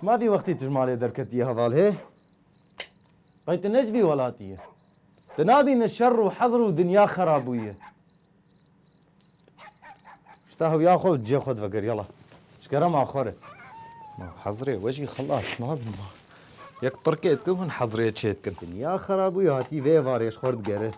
Çima vî wextî tu ji malê derketiye heval hê? Qey tu ne ji vî welatî yî. Tu nabîne şer û hezr û dinya xerab bûye. Şta hewya xwe û cihê xwe divekir yala. Ji kere ma xwe re. Ma hezirê we jî xilas nabin ma. Yek tirkê dikin hûn hezirê çê dikin. Dinya xera bûye hatî vê êvarê ji xwe re digere.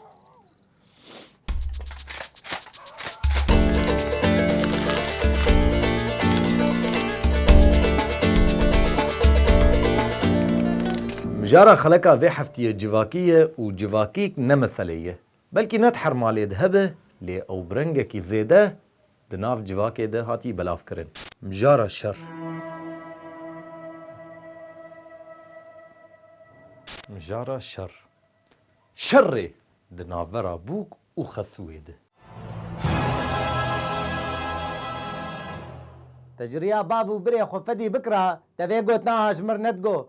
Mijara xeleka vê heftiyê civakî ye û civakîk ne meseleyê ye. Belkî ne di her malê de hebe lê ew bi rengekî zêde di nav civakê de hatiye belavkirin. Mijara şer. Mijara şer. Şerê di navbera bûk û xesûyê de. Te ji riya bav û birê xwe fedî bikira, te vê got naha ji mir ne digot,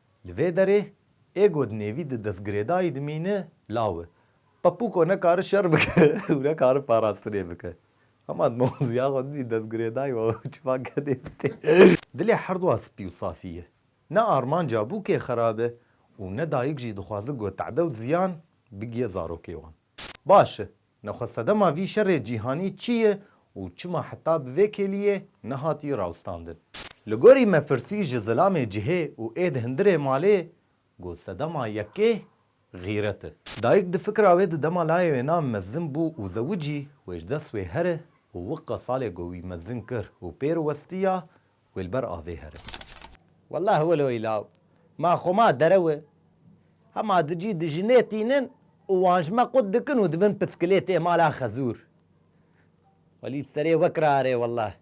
Li vê derê ego di nêvî di destgirêdayî dimîne law e. Pepuko ne kari şer bike û ne kari parastinê bike. Hema di mewziya xwe dimî destgirêdayî wa wê çiva kedê bike. Dilê herduwa spî û safî ye. Ne armanca bûkê xerab e û ne dayik jî dixwaze ku te'de û ziyan bigiye zarokê wan. Baş e, Nexwesedema vî şerê cîhanî çi ye û çima heta bi vê kêliyê nehatiye rawestandin? Li gorî me pirsî ji zilamê cihê û êd hindirê malê got sedema yekê xîret e. Dayik di fikra wê di dema layê wê na mezin bû û zewicî wê ji dest wê here û wiqe salê ku wî mezin kir û pêr westiya wê li ber avê here. Welah wilo î law ma xwe ma derew e. Hema di cî di jinê tînin û wan ji me qut dikin û dibin piskilê tê mala xezûr. Welî serê wek rarê welah.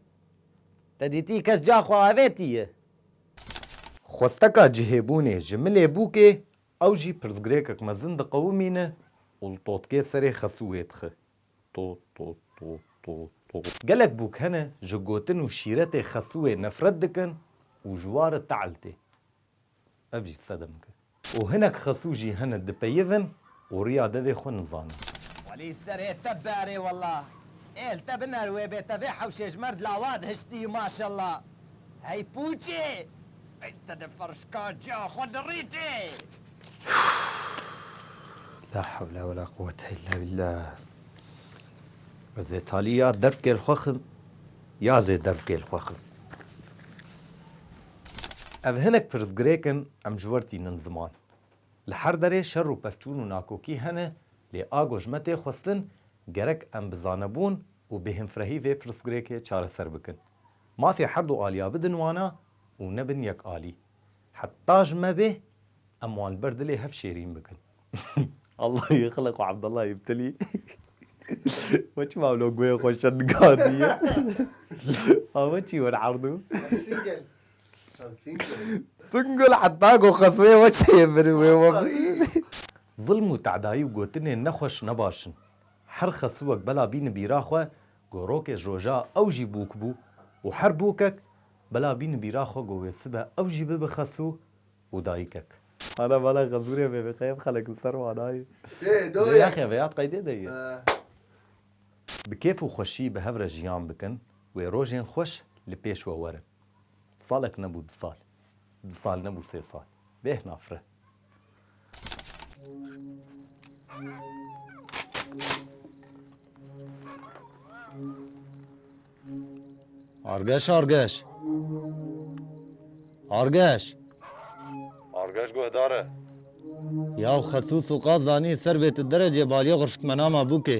Te dîtî kes ca xwe avêtiye? Xwesteka cihêbûnê ji milê bûkê ew jî pirsgirêkek mezin diqewimîne û li totkê serê xesûê dixi. Gelek bûk hene ji gotin û şîretê xesuwê nefret dikin û ji wa re te'l tê. Ev jî sedem ke. Û hinek xesû jî hene dipeyivin û riya devê xwe nizanin. Welî serê te berê wela. Ê li te biner wê bê tevê hewşê ji merd lawad hiştî maşella. Hey pûçê! Ey te di ferşka ciya xwe dirîtî. La hewle ve la quwete illa billah. Ez ê talî ya dervkêl xwe xim, ya zê dervkêl xwe xim. Ev hinek pirsgirêk in em ji wer tînin ziman. Li her derê şer û pevçûn û nakokî hene lê ago ji me tê xwestin gerek em bi zanebûn û bêhemfrehî vê pirsgirêkê çareser bikin. Mafê her du aliya bidin wana û nebin yek alî. Heta ji me bê em wan li ber dilê hev şêrîn bikin. Allah yê xilq û Abdullah yê Btilî we çima wilo guhê xwe şer digandiye? A we çî wir erdû? Singel. Singel heta ku xeseyê we çê min wê we bî. Zilm û tedayî û gotinên nexweş ne baş in. Her xesivek bela bîni bîra xwe gorokê ji roja ew jî bûk bû û her bûkek Bila bîn bîra xwe ku wê sibe ew jî bibe xesû û dayikek. Hana bala xezûrê vê vêqeyê bixele ku ser wan ayê. Lê yaxe vêya qeydê de ye. Bi kêf û xweşî bi hev re jiyan bikin, wê rojên xweş li pêş we werin. Salek nebû du sal. Du sal nebû sê sal. Bêhna fireh. Argeş argeş. Argeş. Argeş guhdar e. Yaw xesûs û qaz zanî ser bê tu derecê baliyê xurşitmenama bûkê.